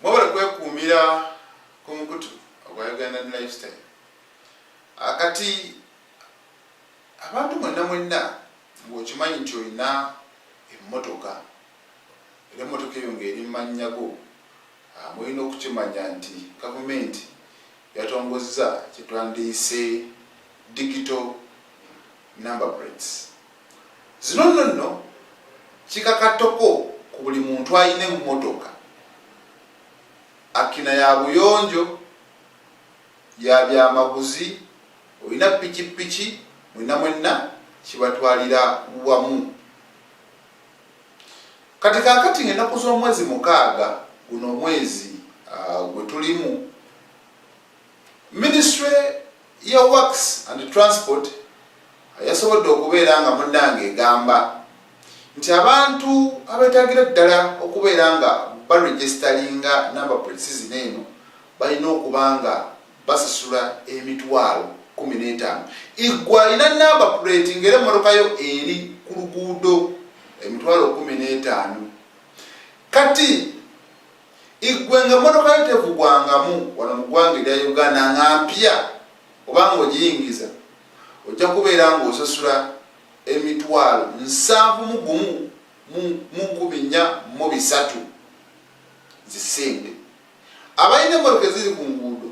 mwebale kwekuumira ku mukutu ogwa uganda lifestyle akati ah, abantu mwenna mwenna ngaokimanyi nti olina emmotoka era emmotoka eyo ngaeri mumanyago ah, mulina okukimanya nti gavumenti yatongozza kyetwandiyise digital number plates Zino nno nno kikakattoko ku buli muntu alina emmotoka akkina ya buyonjo, ya byamaguzi, olina ppikippiki mwenna mwenna kibatwalira wamu. Kati kaakati ng'ennaku z'omwezi mukaaga guno omwezi gwe tulimu, Minisitule ya Works and Transport yasobodde okubeera nga munnange egamba nti abantu abeetagira ddala okubeera nga baregisitalinga namba plate zino eno balina okuba nga basasula emitwalo kumi n'etaano igwe alina namba plate ngaera emmotoka yo eri ku luguudo emitwalo kumi n'etaano kati Igwe nga motoka yo tevugwangamu wano mu gwanga erya Uganda nga mpya oba nga ogiyingiza ojja kubeera nga osasula emitwalo nsanvu mu gumu mu nkumi nnya mu bisatu zisente. Abalina emmotoka eziri ku nguudo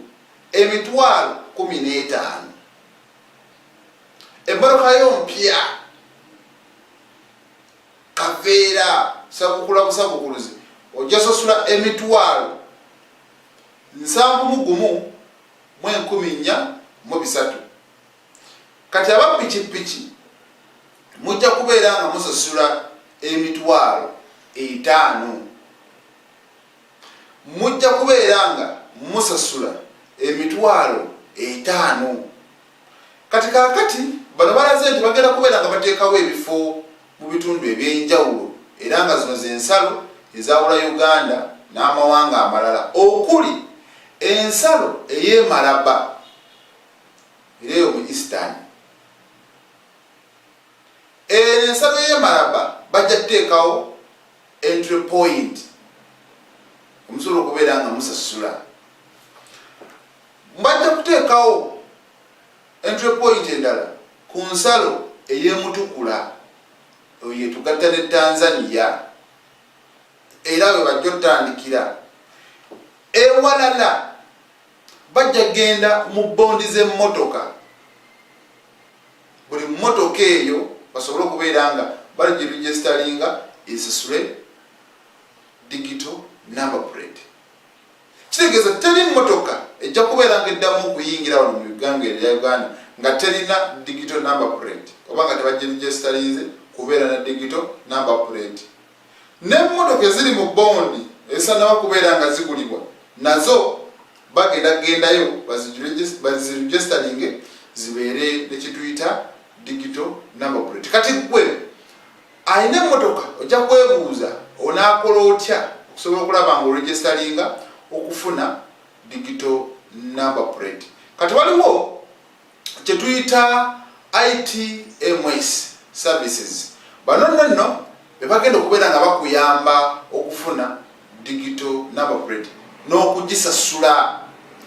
emitwalo kumi n'etaano emmotoka yo mpya kaveera sabukula busabukuluzi ojja sasula emitwalo nsanvu mu gumu mu enkumi nnya mu bisatu kati aba pikipiki mujja kubeera nga musasula emitwalo etaano mujja kubeera nga musasula emitwalo etaano Kati kakati bano balaze nti bagenda kubeera nga bateekawo ebifo mu bitundu eby'enjawulo era nga zino ze nsalo ezaawula Uganda n'amawanga amalala okuli ensalo ey'e Malaba era eyo mu Eastern eno ensalo y'e Malaba bajja kuteekawo entry point omusobola okubeera nga musasula Mbajja kuteekawo entry point endala ku nsalo ey'e Mutukula eyo yetugatta ne Tanzania era we bajja otandikira. Ewalala bajja genda mu bondi z'emmotoka buli mmotoka eyo basobole okubeera nga bali gye registalinga esisule digital number plate Kitegeeza teri mmotoka ejja kubeera nga eddamu okuyingira wano mu Uganga erya Uganda nga terina digital number plate oba nga tebajirijesitalinze kubeera na digital number plate. N'emmotoka eziri mu bondi ezisanaba kubeera nga zigulibwa nazo bagenda kugendayo bazirujesitalinge zibeere ne kituyita digital number plate. Kati gwe Alina emmotoka ojja kwebuuza onaakola otya okusobola okulaba nga oregestalinga okufuna digital number plate. Kati waliwo kye tuyita ITMS services. Bano nno nno be bagenda okubeera nga bakuyamba okufuna digital number plate n'okugisasula.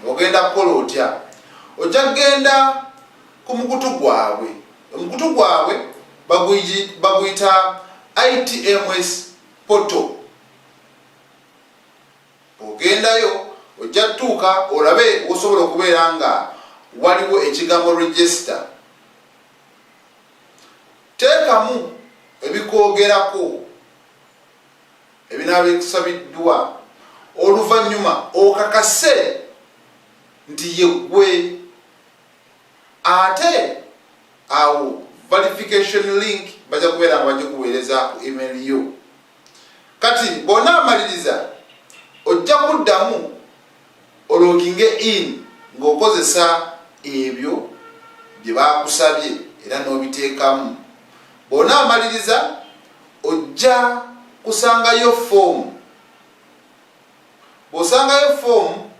Ogenda kukola otya? Ojja kugenda ku mukutu gwabwe omukutu gwabwe baguyita itms poto ogendayo ojja tutuuka olabe osobola okubeera nga waliwo ekigambo register teekamu ebikwogerako ebinaaba ekusabiddwa oluvannyuma okakase nti yeggwe ate awo verification link bajja kubeera nga bajja kuweereza ku email yo kati bona amaliriza ojja kuddamu ologinge in ng'okozesa ebyo bye bakusabye era n'obiteekamu bona amaliriza ojja kusangayo foomu Bw'osangayo foomu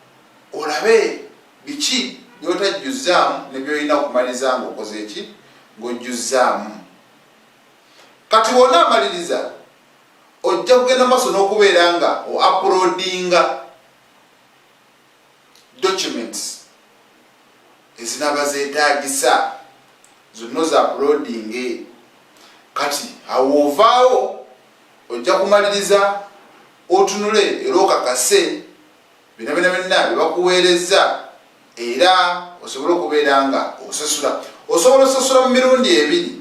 olabe biki by'otajjuzzaamu ne by'olina okumaliza ng'okoze ki? Ng'ojjuzzaamu. Kati bw'onaamaliriza ojja kugenda mu maaso n'okubeera nga o uploadinga documents ezinaaba zeetaagisa zonna oza uploadinge kati awo ovaawo ojja kumaliriza otunule era okakase bino bina byonna byebakuweerezza era osobole okubeera nga osasula osobola osasula mu mirundi ebiri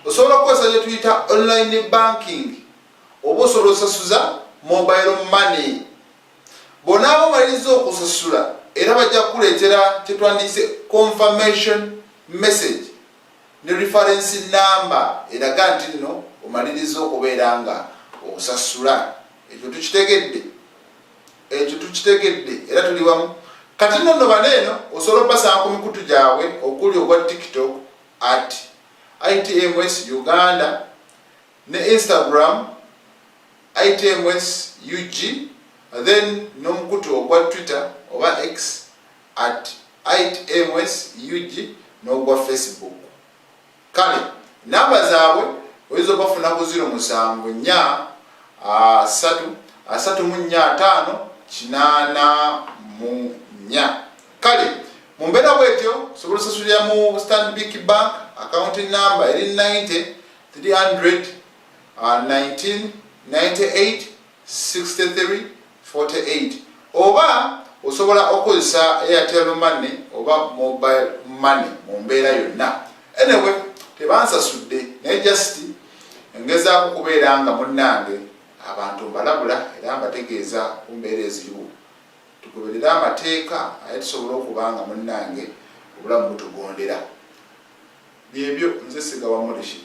osobola okukozesa gyetuyita online banking oba osobola osasuza mobile money bonaaba omaliriza okusasula era bajja kukuleetera kyetwandiyise confirmation message ne rifarensi nnamba eraga nti nno omalirizza okubeera nga osasula. Ekyo tukitegedde? Ekyo tukitegedde era tuli wamu. Kati nno nno bano eno osobola okubasanga ku mikutu gyabwe okuli ogwa TikTok at ITMS Uganda ne Instagram ITMS UG then n'omukutu ogwa Twitter oba X at itms ug n'ogwa Facebook. Kale namba zaabwe oyinza obafuna ku ziro musanvu nnya asatu asatu mu nnya ataano kinaana mu nnya kale mu mbeera bwetyo osobola osasulira mu stanbic bank akawunti namba eri 90 300 19 98 6348 oba osobola okukozesa Airtel money oba mobile money mu mbeera yonna anyway tebansasudde naye just ngezaako kubeera nga munnange abantu mbalabula era mbategeeza ku mbeera eziriwo tugoberere amateeka aye tusobole okuba nga munnange obulamu butugondera Byebyo nze sigawa mulishid.